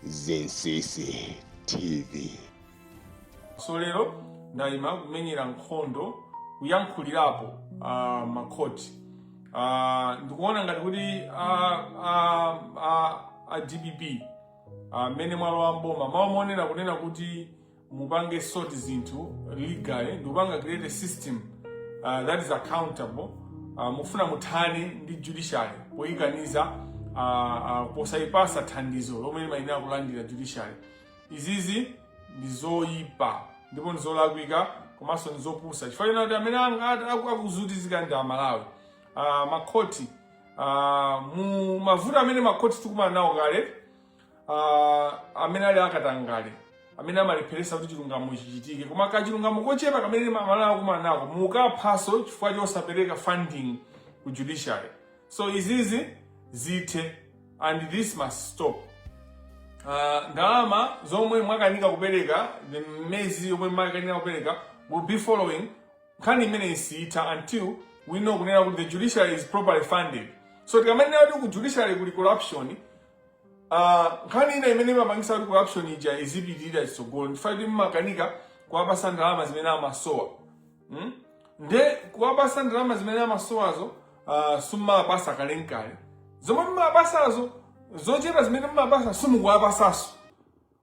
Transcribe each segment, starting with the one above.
Zinsisi TV. so lero ndayima kumenyera nkhondo kuyankhulirapo uh, makhoti uh, ndikuona ngati kuti uh, uh, uh, a dpp mmene uh, mwalowa mboma mawaonera kunena kuti mupange sort zinthu legally ndikupanga create a system uh, that is accountable uh, mufuna muthane ndi judiciary poyikaniza uh, uh, posayipatsa thandizo lomwe limayenera kulandira judiciary izizi ndi zoyipa ndipo ndi zolakwika komanso ndi zopusa chifukwa chakuti amene akuvutika ndi amalawi uh, makhoti uh, mu mavuto amene makhoti tikukumana nawo kale uh, amene ali akatangale amene amalepheretsa kuti chilungamo chichitike koma kachilungamo kochepa kamene amalawi akumana nako mukukaphanso chifukwa chosapereka funding ku judiciary so izizi zithe and this must stop uh, ndalama zomwe mwakanika kupereka miyezi yomwe mwakanika kupereka we'll be following nkhani imeneyi siyitha until we know kunena kuti the judiciary is properly funded so tikamanena kuti ku judiciary kuli corruption Ah, nkhani ina imene imapangisa kuti corruption ija izipitirira chitsogolo nchifukwa choti mmakanika kuwapatsa ndalama zimene amasowa mm? nde kuwapatsa ndalama zimene amasowazo ah, simmawapatsa kalenkale zomwe mmawapatsazo zochepa zimene mmawapatsa simukuwapatsanso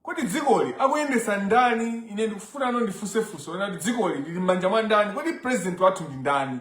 kodi dzikoli akuyendetsa ndani ine ndikufuna ndifunse funso kuti dzikoli lili m'manja mwa ndani kodi president wathu ndi ndani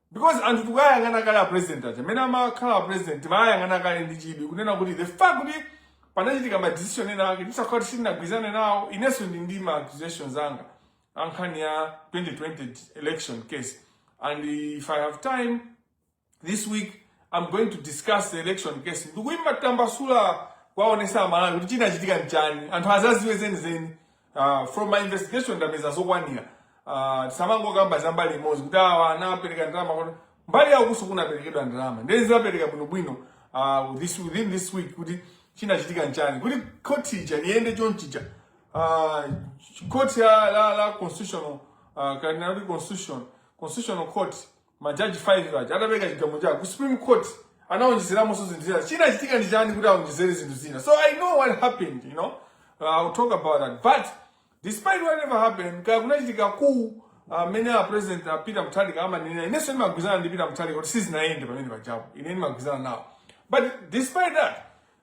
Because anthu tikuwayang'ana kale a president aja amene amakhala a president timawayang'ana kale ndi chidwi kunena kuti the fact kuti panachitika ma decision ena ake tisakhale kuti sitinagwirizane nawo inenso ndili ndi ma accusations anga a nkhani ya 2020 election case and if i have time this week i'm going to discuss the election case ndikuitambasula kuwaonetsa amalawi kuti chinachitika nchani anthu adzadziwe zenizeni Uh, from my investigation ndapeza zokwanira uh, tisamangokamba za mbali imodzi kuti awa anapereka ndalama kuti mbali yawo kunso kunaperekedwa ndalama ndiye ndidzapereka bwinobwino uh, this, within this week kuti chinachitika nchani kuti khoti ija iyende chonchija uh, khoti la, la, la constitutional uh, kanena kuti constitution constitutional court Majaji 5 aja atapereka chigamulo chawo ku Supreme Court anawonjezeramonso zinthu zina. Chinachitika ndi chani kuti awonjezere zinthu zina? So I know what happened, you know. Uh, I'll talk about that. But despite whatever happened, kaya kunachitika mmene uh, a president a uh, Peter Mutharika amanena inenso ndimagwirizana ndi Peter Mutharika kuti sizinayende pamene pajapo. Ine ndimagwirizana nawo. But despite that,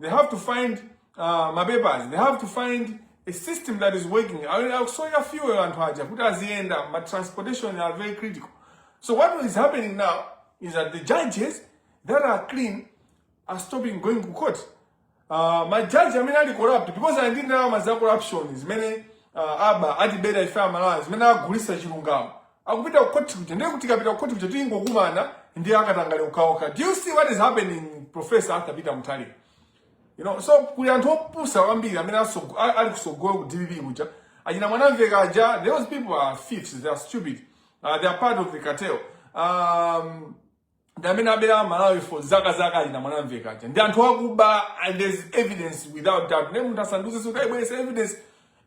They have to find uh, mapepers. They have to find a system that is working. Akusoya fuel anthu aja kuti aziyenda, but transportation are very critical. So what is happening now is that the judges that are clean are stopping going to court. Uh, majaji amene ali corrupt because ali ndi ndalama za corruption zimene uh, aba atibera ife amalawi zimene agulisa chilungamo akupita ku court kuja ndiye kuti kapita ku court kuja tikungokumana ndi akatangale ukaoka do you see what is happening professor Arthur Peter Mutharika you know so kuli anthu opusa kwambiri amene atsogo- a- ali kutsogolo ku dpp kuja achina mwanamveka aja those people are thieves they are stupid uh, they are part of the cartel um, ndi amene abera malawi for zaka zaka achina mwanamveka aja ndi anthu akuba and there's evidence without doubt nde munthu asandiuze zoti aibweretse evidence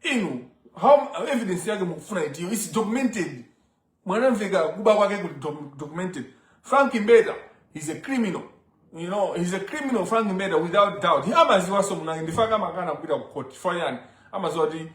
inu how evidence yake mukufuna itiyo its documented mwanamveka kuba kwake kuli doc- documented frank mbeta he's a criminal you know he's a criminal frank mbeta without doubt he amadziwanso munangondifunsa amakana kupita ku court for chani amadziwa kuti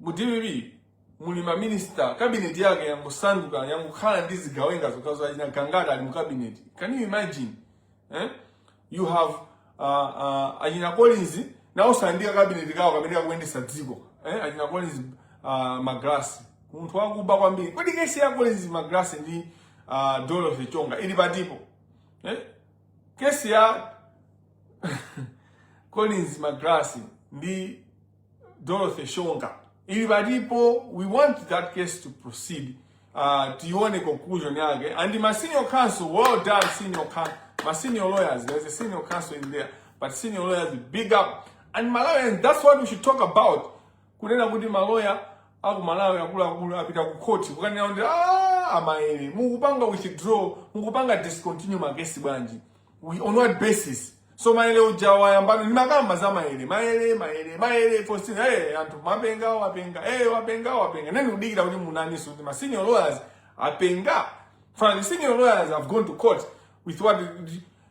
Mu dpp muli ma minister cabinet yake yangosanduka yangokhala ndi zigawenga zokhazokha achina gangata ali mu cabinet. Can you imagine? Eh? You have uh, uh, achina Collins nawonso ndi ka cabinet kawo kamene kakuyendetsa dziko. Eh? Achina Collins uh, Magalasi munthu wakuba kwambiri. Kodi kesi ya Collins Magalasi ndi uh, Dorothy Shonga ili patipo? Eh? Kesi ya Collins Magalasi ndi Dorothy Shonga ili palipo, we want that case to proceed. Uh, tione conclusion yake and my senior counsel, well done senior counsel, my senior lawyers, there's a senior counsel in there, but senior lawyers big up and Malawians, that's what we should talk about. Kunena kuti maloya aku Malawi akuluakulu apita ku court kukanena kuti ah, amaere mukupanga withdraw, mukupanga discontinue magesi bwanji, we on what basis? so maele uja wayamba ine ndimakamba za maele maele maele maele fosina hey, eh, anthu mapenga wapenga hey, eh, wapenga wapenga ndani kudikira kuti muonenso kuti ma senior lawyers apenga four senior lawyers have gone to court with what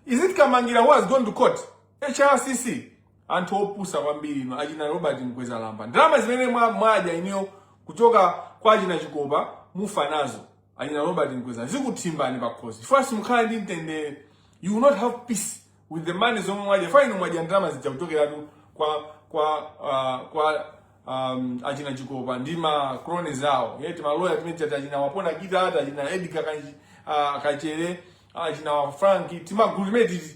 is it kamangira who has gone to court hrcc anthu opusa kwambiri inu achina robert mkwezalamba ndalama zimene mwadya inuyo kuchoka kwa achina chikopa mufa nazo achina robert mkweza zikutsamwani pakhosi chifukwa simukhala ndi mtendere you will not have peace with the money zomwe mwadya fine mwadya ndalama zija kuchokeratu kwa kwa uh, kwa um, achina chikopa ndi ma cronies awo eti timaloya timeneti tati achina wapona kita ati achina edgar kanji uh, kachere achina wa frank timagulu timeneti ti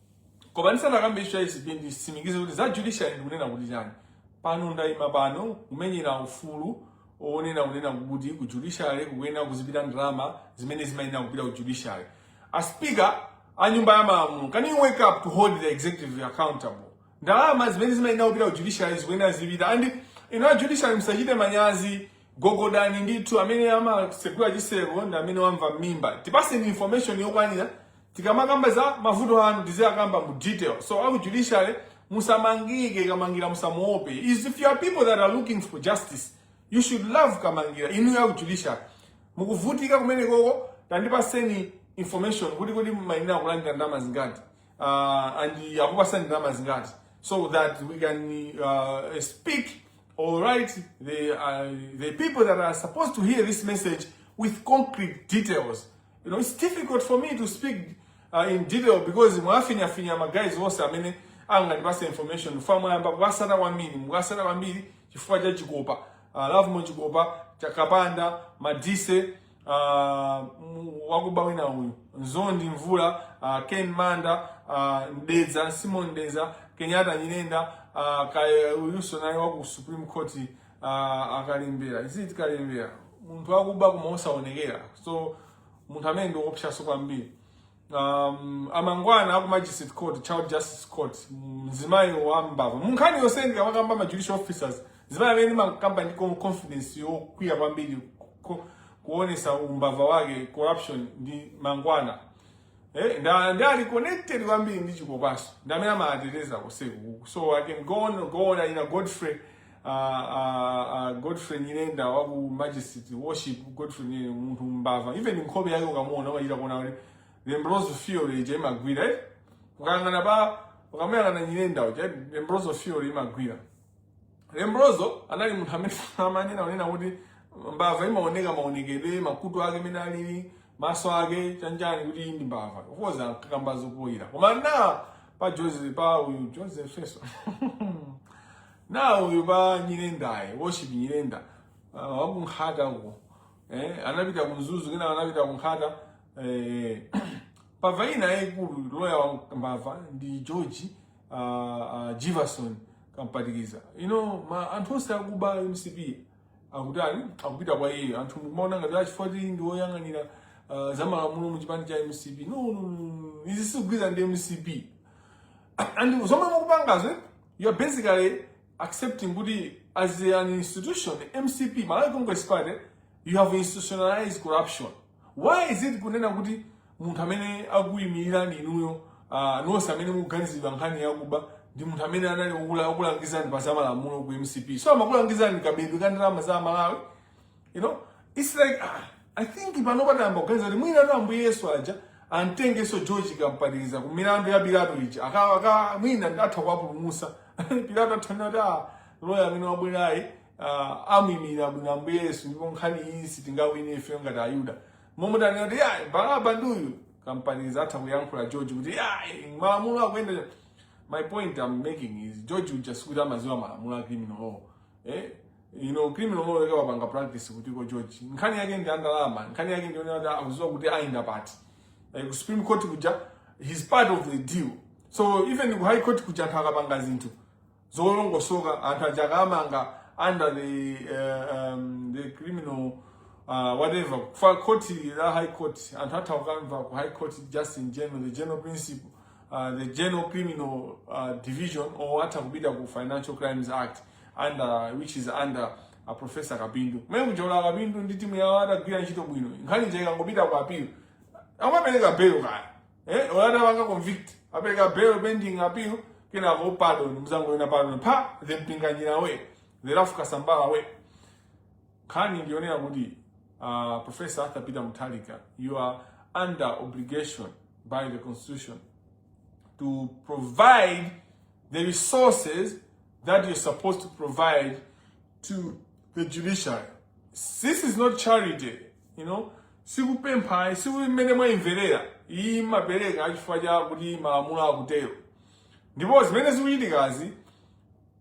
Koma ndisanakambe issue ya ACB nditsimikize kuti za judiciary ndikunena kuti chani. Pano ndaima pano kumenyera ufulu onena kunena kuti ku judiciary kukuyenera kuzipita ndalama zimene zimayenera kupita ku judiciary. A speaker a nyumba ya malamulo can you wake up to hold the executive accountable? Ndalama zimene zimayenera kupita ku judiciary zikuyenera zipita and inu a judiciary msachite manyazi gogodani ndithu amene amatsegula chitseko ndi amene wamva m'mimba tipatseni information yokwanira tikamakamba za mavuto anu tiziyakamba mu detail so aku judiciary musamangike kamangira musamuope is if you are people that are looking for justice you should love kamangira inuyo aku judiciary mukuvutika kumene koko tandipatseni information kuti kuti mumayenera kulandira ndalama zingati uh, and akupatsani ndalama zingati so that we can uh, speak all right the, uh, the people that are supposed to hear this message with concrete details You know, it's difficult for me to speak uh, in detail because mwafinyafinya magayizi onse amene angandipase information fa mwayamba kuwasata kwambiri mukasata kwambiri chifukwa cha chikopa uh, lovemore chikopa cha kapanda madise uh, wakuba wina uyu mzondi mvula uh, ken manda uh, mdeza simon mdeza kenyatta nyirenda uh, kaya uyuso naye waku supreme court uh, a kalembera izi kalembera munthu wakuba koma osaonekera so munthu amene ndi oopsaso kwambiri um, amangwana aku magistrate court child justice court mzimayi wambava munkhani yonse ndikamakamba ma judicial officers zimayi amene ndimakamba ndi con- confidence yokwera kwambiri ku- kuonesa umbava wake corruption ndi mangwana Eh, nda nda ali connected kwambiri ndi chikopaso ndamene amateteza koseko so i can go on go on ina godfrey uh, uh, uh, Godfrey Nyirenda wa ku Magistrate Worship Godfrey Nyirenda munthu mbava even nkhope yake ukamuona wachita kuona kuti Lombroso theory ija imagwira eh ukangana pa ukamuyang'ana Nyirenda uja Lombroso theory imagwira Lombroso anali munthu amene amanena kunena kuti mbava imaoneka maonekedwe makutu ake mene alili maso ake chanichani kuti ndi mbava of course akakambazo poyera koma na pa Joseph pa uyu Joseph Feso na uyu pa nyirendaye worship nyirenda uh, wakunkhata uko eh, anapita kumzuzu kena anapita kunkhata eh, mbava ina yaikulu loya wa mbava ndi george uh, uh, jivason kampatikiza you know ma anthu onse akuba mcp akutani akupita kwa iye anthu mumaona ngati achifoti ndi woyang'anira uh, za malamulo mu chipani cha mcp no, no, no, no. izi sizikugwirizana ndi mcp and zomwe mukupangazo eh? You're basically accepting kuti as an institution, MCP, Malawi Congress Party, you have institutionalized corruption. Why is it kunena kuti munthu amene akuyimirirani inuyo uh, nonse amene mukuganizidwa nkhani yakuba ndi munthu amene anali okula- okulangizani pa zamalamulo ku MCP. So amakulangizani kabedwe ka ndalama za Malawi you know it's like ah, i think pano patayamba kuganiza kuti mwina tu ambuye yesu aja amtengenso george kampatikiza ku milandu ya pilato ija aka aka mwina atha kuwapulumusa pilato atha nena kuti ah, loya amene wabwerayu ah, amwimira bwino ambuye yesu ndipo nkhani iyi sitingawine ife ngati ayuda momwe tanena kuti ya baraba nduyu kampatikiza atha kuyankhula george kuti ya malamulo akuyenda my point i'm making is george uja sikuti amaziwa malamulo a criminal law eh? you know criminal law yake wapanga practice kuti kwa George nkhani yake ndi andalama nkhani yake ndi yonena kuti akudziwa kuti ayenda pati like ku supreme court kuja he's part of the deal so even ku high court kuja anthu akapanga zinthu zolongosoka anthu aja akawamanga under the uh, um, the criminal uh, whatever ya court la high court anthu atha kukamva ku high court just in general the general principle uh, the general criminal uh, division or atha kupita ku financial crimes act under which is under a professor Kapindu. Mene kuja a Kapindu ndi timu yawo adagwira ntchito bwino. Nkhani nje ikangopita ku appeal. Amapereka bail kaya. Eh, olada wapanga convict. Apereka bail pending appeal kenako pardon mzango ina pardon. Pa the Mpinganjira we. The Ralph Kasambara we. Nkhani ndi yonena kuti uh, Professor Arthur Peter Mutharika, you are under obligation by the constitution to provide the resources that you're supposed to provide to the judiciary. This is not charity, you know. sikupempha si mmene mwayimverera ayi mumapereka chifukwa cha kuti malamulo akutero ndipo zimene zikuchitikazi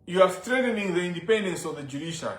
you are threatening the independence of the judiciary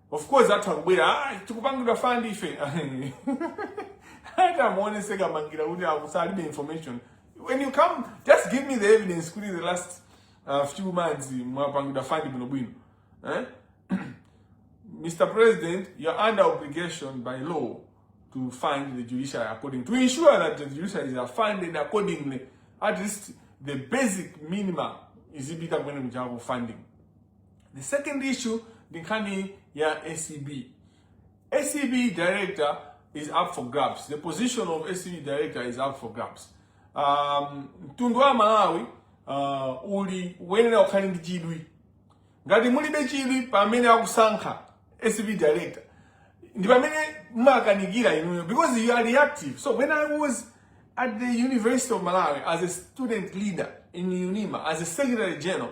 Of course atha kubwera ah, tikupangidwa fund ife hata muonese kamangira kuti akusalibe information when you come just give me the evidence kuti the last uh, few months mwapangidwa fund bwinobwino eh? Mr. President, you're under obligation by law to fund the judiciary according to ensure that the judiciary is funded accordingly. At least the basic minimum is ibita kwene mjago funding. The second issue ndi nkhani ya ACB. ACB director is up for grabs. The position of ACB director is up for grabs. Um, mtundu wa Malawi uh, ukuyenera ukhale ndi chidwi. Ngati mulibe chidwi pamene akusankha ACB director ndi pamene mumakanika inuyo because you are reactive. So when I was at the University of Malawi as a student leader in UNIMA as a secretary general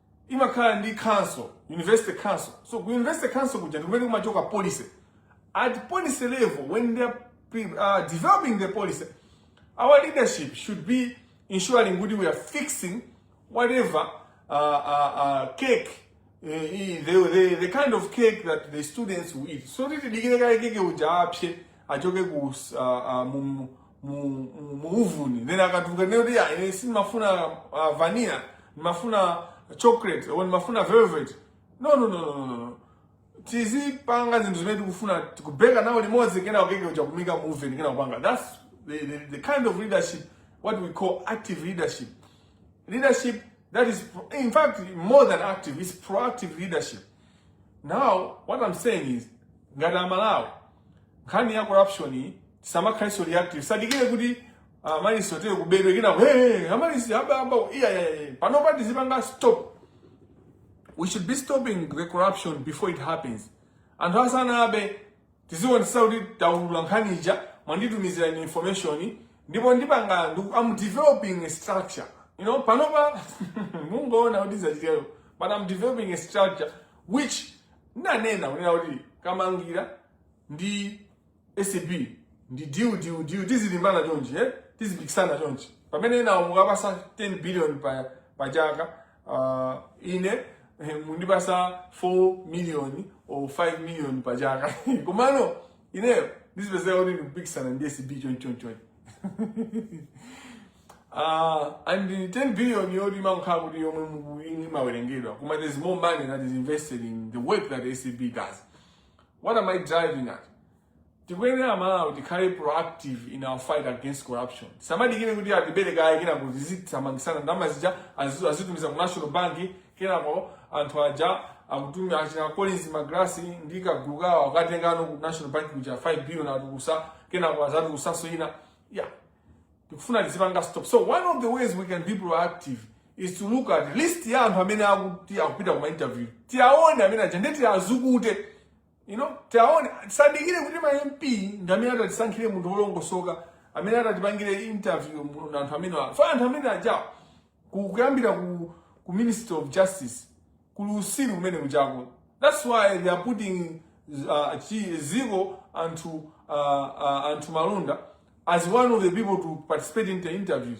imakhala ndi council university council so ku university council kuja ndikumene kumachoka policy at policy level when they're uh, developing the policy our leadership should be ensuring kuti we are fixing whatever uh, uh, uh, cake uh, the, the, the kind of cake that the students will eat so titi dikire kale keke uja apse achoke ku uh, uh, mu, mu, mu, mu uvuni then akatuluka ndiye muziti ine sindimafuna uh, vanilla ndimafuna chocolate or ndimafuna velvet no no no no no, no tizipanga zinthu zimene tikufuna kubeka nawo limodzi kena keke uja kumuika mu uvuni kena kupanga that's the, the, the kind of leadership what we call active leadership leadership that is in fact more than active is proactive leadership Now what I'm saying is ngati aMalawi nkhani ya corruption iyi tisamakhalenso reactive tisadikire kuti Amaryllis otere kubedwe kenako hey, Amaryllis aba aba iya iya iya panopa tizipanga stop we should be stopping the corruption before it happens anthu asanabe tizionetsetsa kuti taulula nkhani ija mwanditumizira information ndipo ndipanga ndiku- I'm developing a structure you know panopa mungoona kuti zachitika but I'm developing a structure which nanena kunena kuti Kamangila ndi ACB ndi deal deal deal tizilimbana chonchi eh? tizipikisana chonchi pamene enawo mukuwapatsa 10 billion pa, pa chaka uh, ine eh, mundipasa 4 million or 5 million pa chaka komano ineyo ndizipezeka kuti ndikupikisana ndi acb chonchonchon Uh, and the 10 billion yoti inakhala kuti yomwe mu- imawerengedwa koma there's more money that is invested in the work that acb does what am i driving at tikuyenera amalawi tikhale proactive in our fight against corruption tisamadikire kuti atibere kaye kenako tizithamangisana ndalama zija azazitu- azitumiza ku national bank kenako anthu aja akutuma achina collins magalasi ndi kagulu kawo akatengeno ku national bank kuja 5 billion atulutsa kenako azatulutsanso ina yeah tikufuna tizipanga stop so one of the ways we can be proactive is to look at list ya anthu amene akuti akupita ku ma interview tiwaone amene aja ndi tiwazukute you know tiwaone tisadikire kuti ma mp ndi amene atatisankhire munthu wolongosoka amene atatipangire interview mu- na anthu amene afa anthu amene ajawo ku- kuyambira ku, ku ministry of justice kuli kusilu kumene kujako that's why they are putting uh, chi- dziko anthu uh, uh, anthu malunda as one of the people to participate in the interviews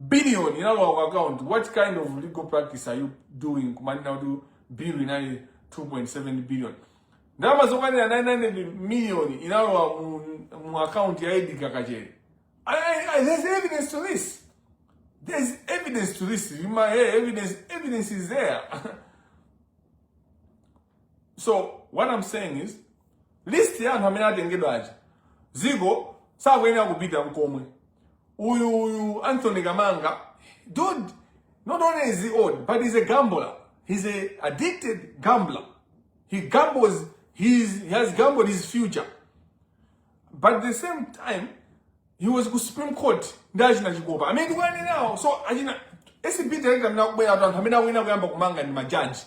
billion inalowa ku account what kind of legal practice are you doing kumanena kuti bill inali 2.7 billion ndalama zokwanira 900 million inalowa mu, mu account ya edgar kachere I, I, there's evidence to this there's evidence to this you might hear evidence evidence is there so what i'm saying is list ya anthu amene atengedwa aja dziko sakuyenera kupita nkomwe uyu uyu anthony kamanga dude not only is he old but he's a gambler he's a addicted gambler he gambles he's, he has gambled his future but at the same time he was ku supreme court ndi achina chikopa amene tikuwanenawo so achina acb director amene akubwera anthu amene akuyenera kuyamba kumanga ndi majaji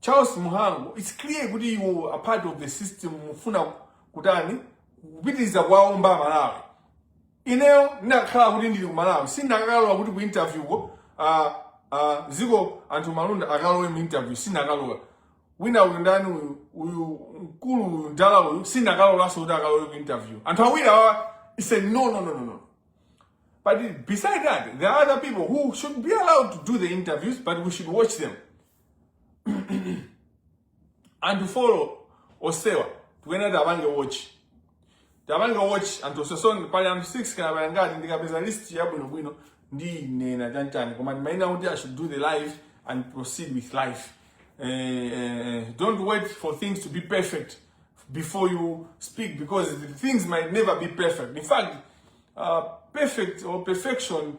Charles Muhango, it's clear kuti you are part of the system mufuna kutani kupitiriza kuwaomba aMalawi. Ineyo ndinakakhala kuti ndili ku Malawi sindikanalola kuti ku interview ko uh, uh, dziko anthu malunda akalowe mu interview sindikanalola. Wina uyu ndani uyu uyu mkulu uyu ndala uyu sindikanalolanso kuti akalowe ku interview. Anthu awiri awa it's a no no no no no. But beside that, there are other people who should be allowed to do the interviews, but we should watch them. anthu folo onsewa tikuyenera tiwapange watch tiwapange watch anthu onse so pali anthu 6 kaya pali ngati ndikapeza list yabwinobwino ndinena chantani koma ndimayenera kuti i should do the live and proceed with life eh, eh, don't wait for things to be perfect before you speak because the things might never be perfect in fact uh, perfect or perfection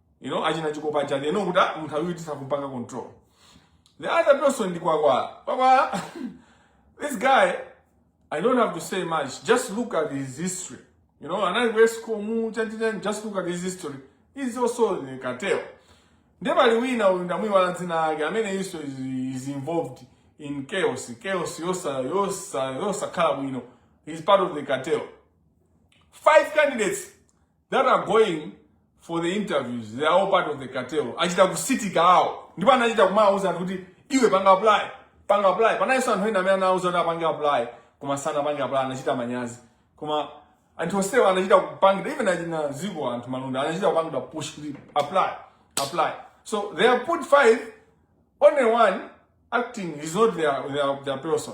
you know achina chikopa chake you know kuti ah, munthu awiri tisakupanga control the other person ndi kwakwala kwakwala this guy i don't have to say much just look at his history you know anali wa escom chanichani just look at his history he's also the cartel ndiye pali wina uyu ndamuiwala dzina lake amene iso is, is involved in chaos chaos yosa yosa yosakhala bwino he's part of the cartel five candidates that are going for the interviews they are all part of the cartel achita kusitika awo ndipo anachita kumawauza anthu kuti iwe panga apply panga apply panalinso anthu ena amene anawauza kuti apange apply koma sanapange apply anachita manyazi koma anthu onsewo anachita kupangidwa even achina dzikondianthu malunda anachita kupangidwa push kuti apply apply so they are put five only one acting is not their, their, their person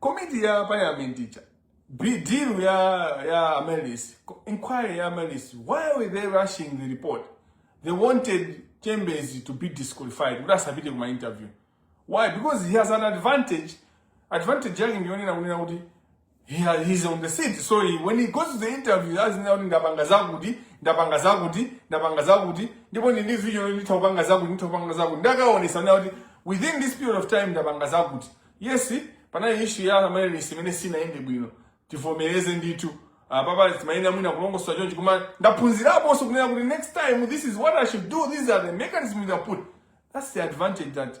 komiti ya parliament ija deal ya ya amaryllis inquiry ya amaryllis why were they rushing the report they wanted chembezi to be disqualified kuti asapite kuma interview why because he has an advantage advantage yake ndiyonena kunena kuti Yeah, he's on the seat. So he, when he goes to the interview, that's now ndapanga zakuti, ndapanga zakuti, ndapanga zakuti, ndipo ndi video nditopanga zakuti, nditopanga zakuti. Ndakaonesa now kuti within this period of time ndapanga zakuti. Yes, panali issue ya Amaryllis imene sinaende bwino. Tivomereze ndithu. Uh, papa timayenera mwina kulongosola chonchi koma ndaphunzirapo also kunena kuti next time this is what I should do, these are the mechanisms I put. That's the advantage that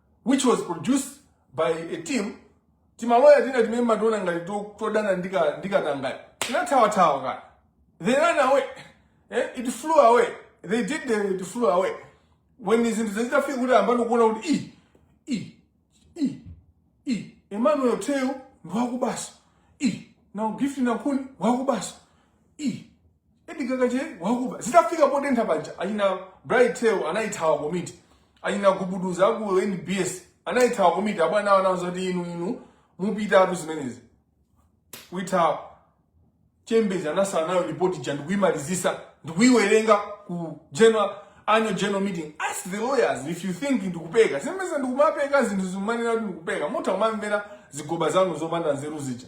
which was produced by a team timaloya tina timene mationa ngati to- todana ndi ka- ndi katangale tinathawathawa kana they ran away eh? it flew away they did the, it flew away when zinthu zazitafika kuti ayambano kuona kuti i i i i emmanuel theu ndiwakubanso i na gift nankhuni wakubanso Ih, Edgar Kachere wakuba. Zitafika potentha paja achina Bright Theu anayithawa komiti. Achina kubuduza aku NBS anayithawa komiti abwana awo anawauza kuti inu inu mupita atu zimenezi. Kuitha Chembezi anasala nayo report ija ndikuyimalizisa ndikuyiwerenga ku general annual general meeting ask the lawyers if you think ndikupeka zimeza ndikumapeka zinthu mumanena kuti ndikupeka mutha kumamvera zigoba zanu zopanda nzeru zija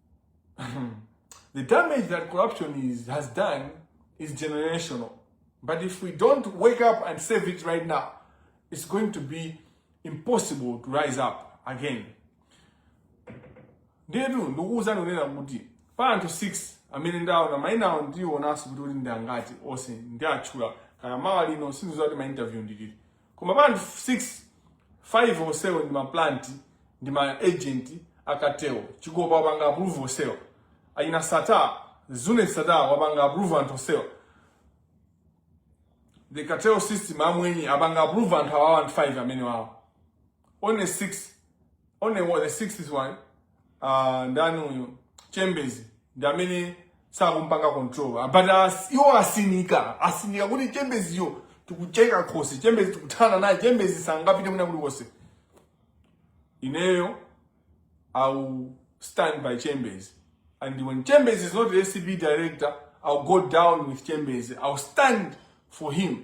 the damage that corruption is, has done is generational. But if we don't wake up and save it right now, it's going to be impossible to rise up again. Ndetu ndikuuza ndonena kuti pa anthu 6 amene ndaona maina awo ndionanso kuti kodi ndi angati onse ndiatchula kaya mawa lino sindiziwa kuti ma interview ndi liti koma pa anthu 6 5 onsewo ndi ma plant ndi ma agent a cartel chikopa wapanga approve onsewo ayina sattar zuneth sattar wapanga approve anthu onsewo the cartel system amwenye apanga approve anthu awawa anthu 5 amene wawo only the sixth one uh, ndani uyu chembezi ndi amene sakumpanga control ah, but as, iwo asinika asinika kuti chembeziyo tikucheka khosi chembezi tikuthana naye chembezi sangapite mwina kulikonse ineyo i'll stand by chembezi and when chembezi is not the acb director i'll go down with chembezi i'll stand for him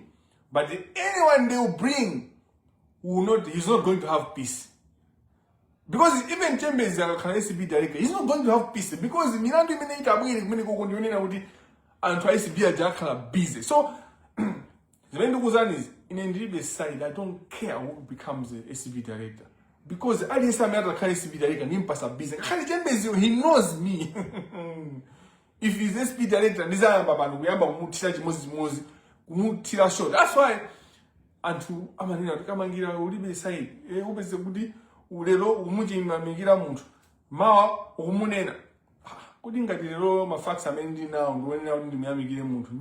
but anyone they will bring will not he's not going to have peace because even chembezi akakhala acb director he's not going to have peace because milandu imene itabwere kumenekoko ndi yonena kuti anthu a acb aja akhala busy so zimene ndikuuzanizi ine ndilibe side i don't care who becomes the acb director because aliyense amene atakhala acb director ndimpasa busy ngakhale chembeziyo he knows me if he's acb director ndizayamba pano kuyamba kumuthira chimodzimodzi kumuthira so that's why anthu amanena kuti kamangira ulibe side e, eh, upeze kuti lero ukumuyamikira munthu mawa ukumunena ah, kuti ngati lero ma facts amene ndinawo ndi onena kuti ndimuyamikire munthu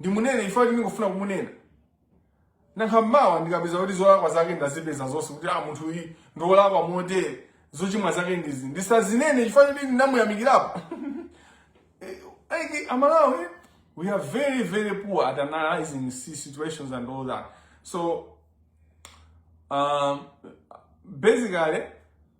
ndimunene chifukwa kuti ndikufuna kumunena Nanga mawa ndikapeza kuti zolakwa zake ndazipeza zonse kuti a ah, munthu uyu ndi wolakwa motere zochimwa zake ndizi ndisazinene chifukwa choti ndinamuyamikirapo eh, eh, amalawi eh, we are very very poor at analyzing situations and all that so um, basically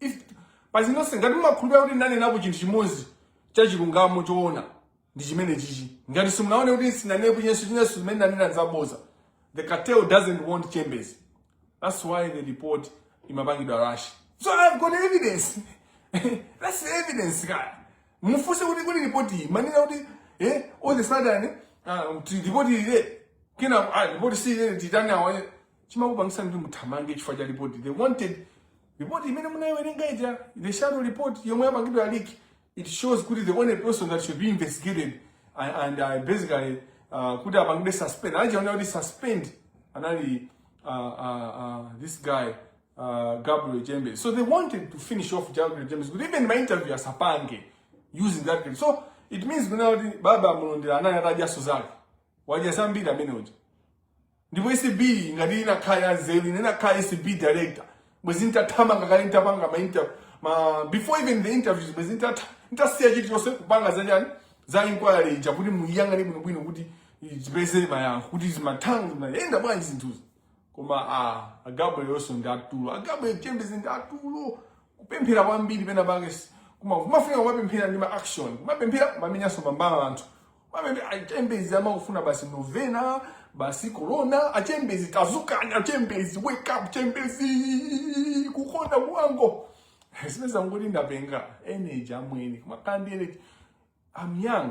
If- pazinonse ngati mumakhulupirira kuti ndanenapo chinthu chimodzi cha chilungamo choona ndi chimenechichi ngati simunaone kuti sinanenapo chinenso chinenso zimene ndanena zaboza the cartel doesn't want chembezi that's why the report imapangidwa rush so i've got evidence that's the evidence kaya mufunse kuti kuti report iyi manena kuti eh all the sudden ah, kuti report ile kina ah, report si ile titani awa chimakupangisa kuti muthamange chifukwa cha report they wanted Report imene munayiwerenga ija the shadow report yomwe yapangidwa ya leak it shows kuti the only person that should be investigated and, and uh, basically uh, kuti apangidwe suspend anachiona kuti suspend anali uh, uh, uh, this guy uh, Gabriel Jembe so they wanted to finish off Gabriel Jembe kuti even my interview asapange using that clip so it means kuna kuti baba mulondera anali atajaso zake wajazambira amene uja ndipo ACB ngati inakhala ya nzeru ine nakhala ACB director bwezi ntathamanga kale ntapanga before even the interviews bwezi ntasiya chilichonse kupanga za chani za inquiry ija kuti muyang'ane bwinobwino kuti zipezere mayankho kuti zimathango zimayenda bwanji zinthuzi koma a gabriel yonso ndi atulo a gabriel chembezi ndi atulo kupemphera kwambiri pena pake si- kuma- kumafika kumapemphera ndi ma action kumapemphera kumamenyanso mambala anthu achembezi amakufuna basi novena basi corona achembezi tadzukani achembezi wake up chembezi kukonda kuwango zimene zanguti ndapenga energy amwene kumakhala ndi energy I'm young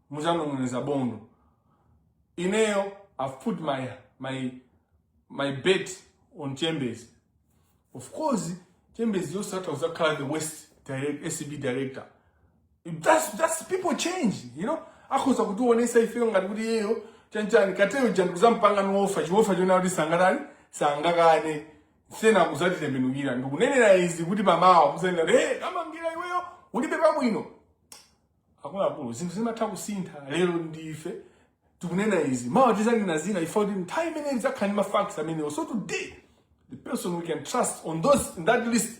muzanong'oneza bondo ineyo i've put my my my bet on chambers of course chambers atha kuzakhala the worst direct, acb director that's, that's people change you know akhoza kutiwonesa ifeyo ngati kuti iyeyo chanchani kateyo jani kuzampanga mofa chofa chona kuti sangatani sangakane kena kuzatitembenukira ndikunenera izi kuti pamawa muzanena hey, kamangira iweyo ulibe pabwino akuluakulu zinthu zimatha kusintha lero ndife tikunena izi mawa tizanena zina ife kuti nthawi imene tidzakhala ndi mafacts amenewo so today the person we can trust on those in that list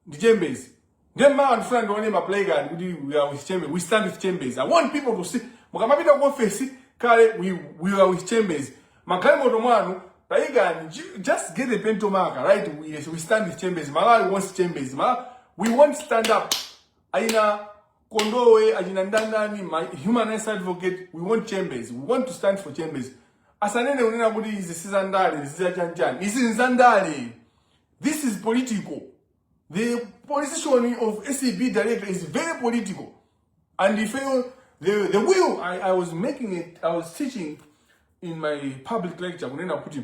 ndi chambers ndiye mawa ndifuna ndione maplacard kuti we are with chambers we stand with chambers i want people to see mukamapita ku ofesi kale we, we are with chambers magalimoto mwanu tayikani ju- just get a pentel marker write we, yes, we stand with chambers malawi wants chambers malawi we won't stand up Aina Kondowe, Ajina Ndandani, my human rights advocate, we want chambers. We want to stand for chambers. Asanene unena kuti izi sizandale, izi zachanchani. Izi nzandale. This is political. The position of ACB director is very political. And if you, the, the will, I, I was making it, I was teaching in my public lecture, kunena kuti,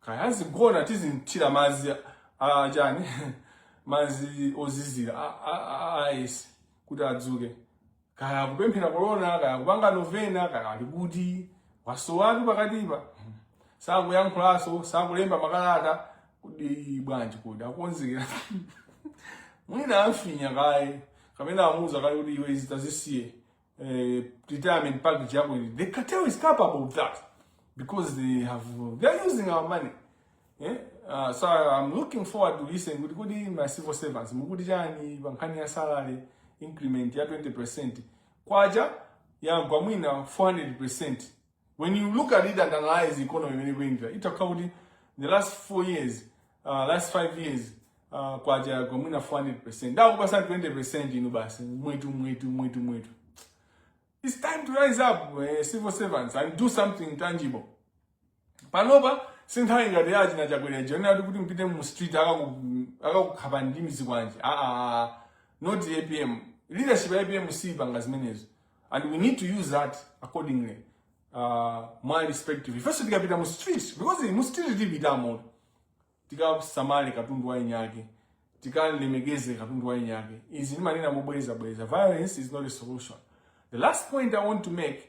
kaya azigona tizimthira madzi a chani madzi ozizira a- a- a- a ice kuti adzuke kaya akupemphera korona kaya akupanga novena kaya ali kuti wasowatu pakatipa sakuyankhulanso sakulemba makalata kuti bwanji kodi akukonzekera mwina amfinya kaye kapena amuuza kaye kuti iwe izi tazisiye uh, retirement package yako ili. The cartel is capable of that because they have they are using our money. Yeah? Uh, so I'm looking forward to listen kuti kodi ma civil servants mukuti chani pa nkhani ya salary increment ya 20% kwacha yagwa mwina 400% When you look at it and analyze the economy mmene ikuyendera, itha kukhala kuti the last four years, uh, last five years, uh, kwacha yagwa mwina 400%. Ndi awo kukupatsa 20% inu basi, mwetu, mwetu, mwetu, mwetu. It's time to rise up, uh, civil servants, and do something tangible. Panopa, sinthawi ngati ya achina chakwera chonena kuti ati kuti mpite mu street akaku- akakukhapa ndi zikwanje. Ah, ah, ah. not the APM. Leadership ya APM siipanga zimenezo. and we need to use that accordingly uh, mwa respective ifenso tikapita mu street because mu street tipitamo tikasamale katundu wa eniake tikalemekeze katundu wa eniake izi ndimanena mobwereza bwereza violence is not a solution the last point i want to make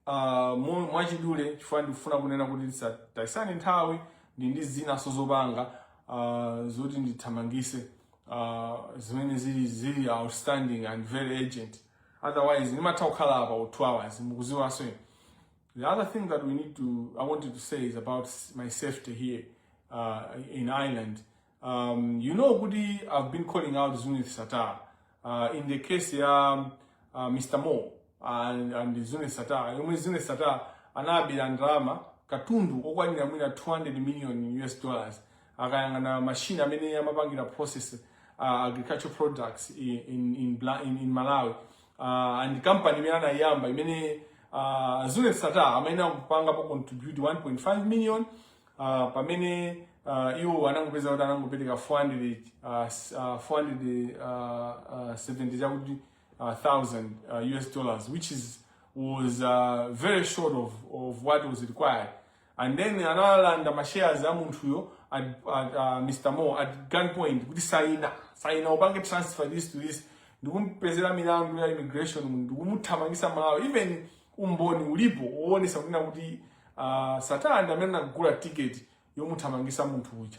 uh, mwachidule chifukwa ndikufuna kunena kuti tisataisane nthawi ndili ndi zinaso zopanga uh, zoti ndithamangise uh, zimene zili zili outstanding and very urgent otherwise nimatha kukhala apa u 2 hours mukuziwanso inu the other thing that we need to i wanted to say is about s- my safety here uh, in ireland um, you know kuti i've been calling out zunith satar uh, in the case ya um, uh, mr moore and, and zunith satar yomwe zunith satar anabera ndalama katundu okwanira mwina 200 million us dollars akayang'ana machine amene amapangira process uh, agricultural products in, in, in, Bla- in, in malawi uh, and company imene anayiyamba imene uh, zuneth sattar anakapangapo contribute 1.5 million uh, pamene uh, iwo anangopeza kuti anangopereka 400 uh, s- uh, 400 uh, uh, 70 chakuti uh, thousand uh, US dollars which is was uh, very short of, of what was required and then analanda ma shares a munthuyo at, at uh, Mr. Moore at gunpoint kuti saina saina upange transfer this to this ndikumpezera milandu ya immigration ndikumuthamangisa Malawi even umboni ulipo woonesa kunena kuti uh, Sattar ndi amene anagula ticket yomuthamangisa munthu uja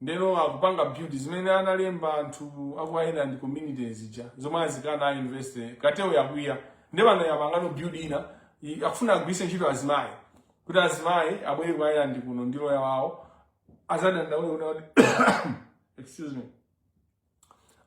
Ndeno akupanga build zimene analemba anthu aku Ireland community zija zomwe azikana a university kateloyo yakwiya nde pano yapangano build ina i- akufuna agwiritse ntchito azimayi kuti azimayi abwere ku Ireland kuno ndi loya wawo azadandaule kuti excuse me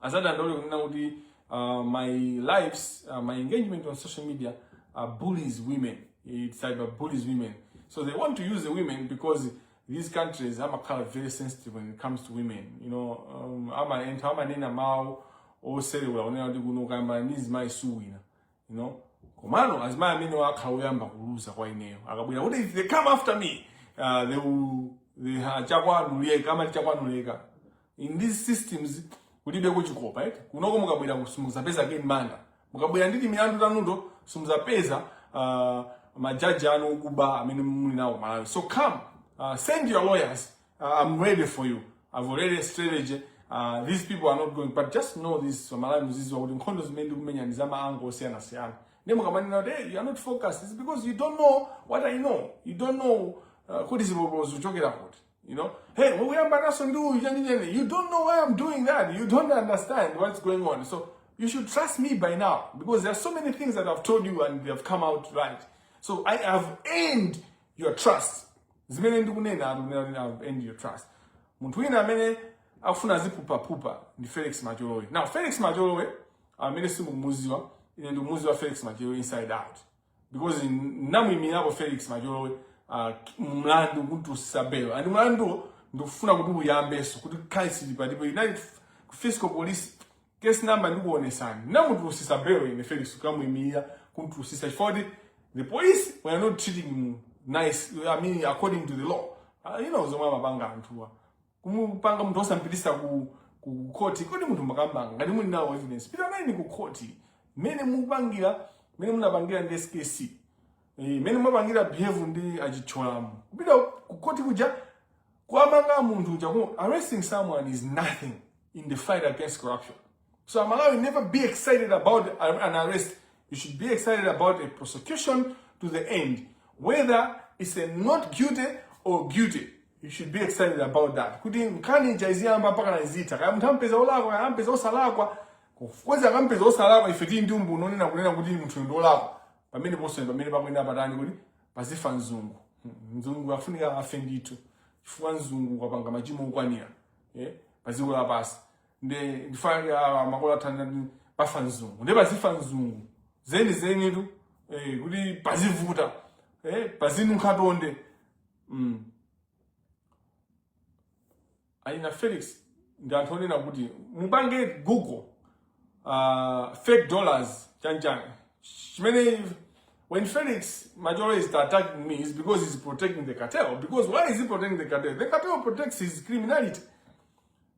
azadandaule kunena kuti uh, my lives uh, my engagement on social media uh, bullies women it cyber bullies women so they want to use the women because these countries amakhala very sensitive when it comes to women you know um, amaentha amanena mawu oselewula onena kuti kuno kuyamba ndi nzimayi suwina you know komano azimayi amenewo akhala oyamba kuluza kwa ineyo akabwera kuti if they come after me uh, they will they ha- chakwanuleka amati chakwanuleka in these systems kulibeko chikopa eti kunoko mukabwera ku- simuzapeza ke manga mukabwera ndi timilandu tanuto simuzapeza uh, majaji anu okuba amene muli nawo Malawi so come uh, send your lawyers uh, i'm ready for you i've already a strategy uh, these people are not going but just know this Malawi muziziwa kuti nkhondo zimene ndikumenya ndi za ma angle osiyanasiyana ndi mukamanena kuti hey, you are not focused It's because you don't know what i know you don't know uh, kuti zibobo zikuchokera kuti You know, hey, when we are Banasundu, you don't know why I'm doing that. You don't understand what's going on. So you should trust me by now because there are so many things that I've told you and they have come out right. So I have earned your trust. Zimene ndikunena I've earned your trust. Munthu wina amene akufuna zipupa pupa ndi Felix Macholowe. Now Felix Macholowe amene simukumuziwa, ine ndikumuziwa Felix Macholowe inside out. because namuimirirapo Felix Macholowe uh, mlandu kumtulutsisa belo and mlanduwo ndikufuna kuti uyambenso kuti kaisili palipo united fiscal police case number ndikuonesani namutulutsisa belo ine Felix kumuimirira kumtulutsisa chifukwa choti the police were not treating him nice i mean according to the law uh, you know zomwe amapanga anthuwa kumupanga munthu osampitisa ku ku court kodi munthu mukammanga ngati muli nawo evidence pitani nayeni ku court mmene mupangira mmene munapangira ndi SKC eh, mmene mumapangira behave ndi a Chithyolamu kupita ku court kuja kuamanga munthu uja ku arresting someone is nothing in the fight against corruption So aMalawi never be excited about an arrest. You should be excited about a prosecution to the end. Whether it's a not guilty or guilty. You should be excited about that. Kuti nkhani chaiziyamba mpaka naizita. Kaya munthu ampeza olakwa, kaya ampeza osalakwa. Ngakhale akampeza osalakwa ife tili ndi umboni onena kunena kuti munthu ndi olakwa. Pamene ponse pamene pakuyenda patani kuti pazifa nzungu. Nzungu afunika afe ndithu. Chifukwa nzungu wapanga machimo okwanira. Eh? Paziko lapansi. nde ndifa, ah, makolo athu anati padzafa mzungu nde padzafa mzungu zeni zeni tu eh, kuti pazivuta eh, pazinunkha ntonde mm. aina felix ndi anthu onena kuti mupange google uh, fake dollars chanchani chimene when felix majoro is attacking me it's because he's protecting the cartel because why is he protecting the cartel the cartel protects his criminality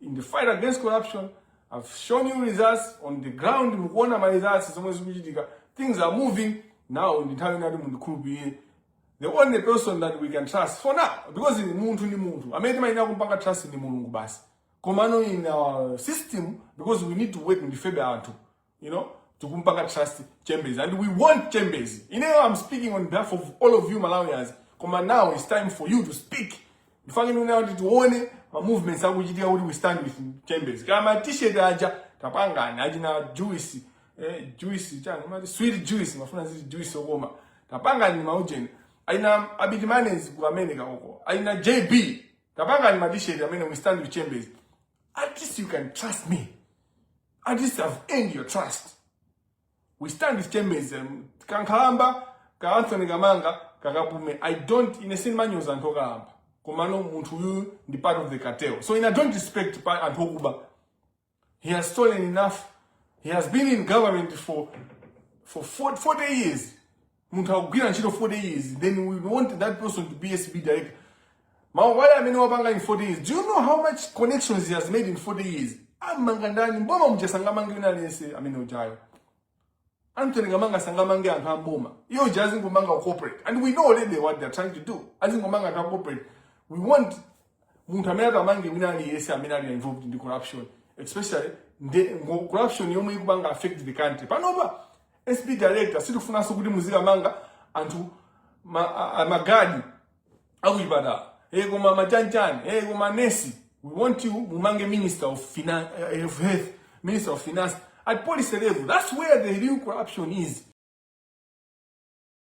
in the fight against corruption i've shown you results on the ground mukuona ma results zomwe zikuchitika things are moving now ndi nthawi inayake mundikhulupirire the only person that we can trust for now because ni munthu ndi munthu amene timayenera kumpanga trust ndi mulungu basi komano in our system because we need to work ndifebe anthu you know tikumpanga trust chambers and we want chambers you know i'm speaking on behalf of all of you malawians koma now it's time for you to speak ndifake ndikunayo kuti tione ma movements akuchitika kuti we stand with chambers kaya ma t-shirt aja tapangani achina juice eh, juice chani mati sweet juice mafuna ziti juice okoma tapangani maujeni aina abiti manes ku america uko aina jb tapangani ma t-shirt amene we stand with chambers at least you can trust me At least I've earned your trust. We stand with chambers um, kankhalamba ka Anthony Kamanga kakapume. I don't in a sin manuals and tokalamba. Komano munthu uyu ndi part of the cartel. So in a don't respect pa anthu okuba. He has stolen enough. He has been in government for for 40 years. munthu akugwira ntchito 40 years then we want that person to be acb director mawaya amene wapanga in 40 years do you know how much connections he has made in 40 years amanga ndani mboma muja sangamange wina aliyense amene ujayo anthony kamanga sangamange anthu amboma ujayo azingomanga corporate and we know already what they're trying to do azingomanga anthu a corporate we want munthu amene atimangire wina aliyense amene ali involved ndi corruption especially nde ngo corruption yomwe ikupanga affect the country panopa acb director sitifunanso kuti muzikamanga anthu ma- a- a- magadi akuchipatala hey, koma machanchani hey, koma nesi we want you mumange minister of, finan uh, of health minister of finance at policy level that's where the real corruption is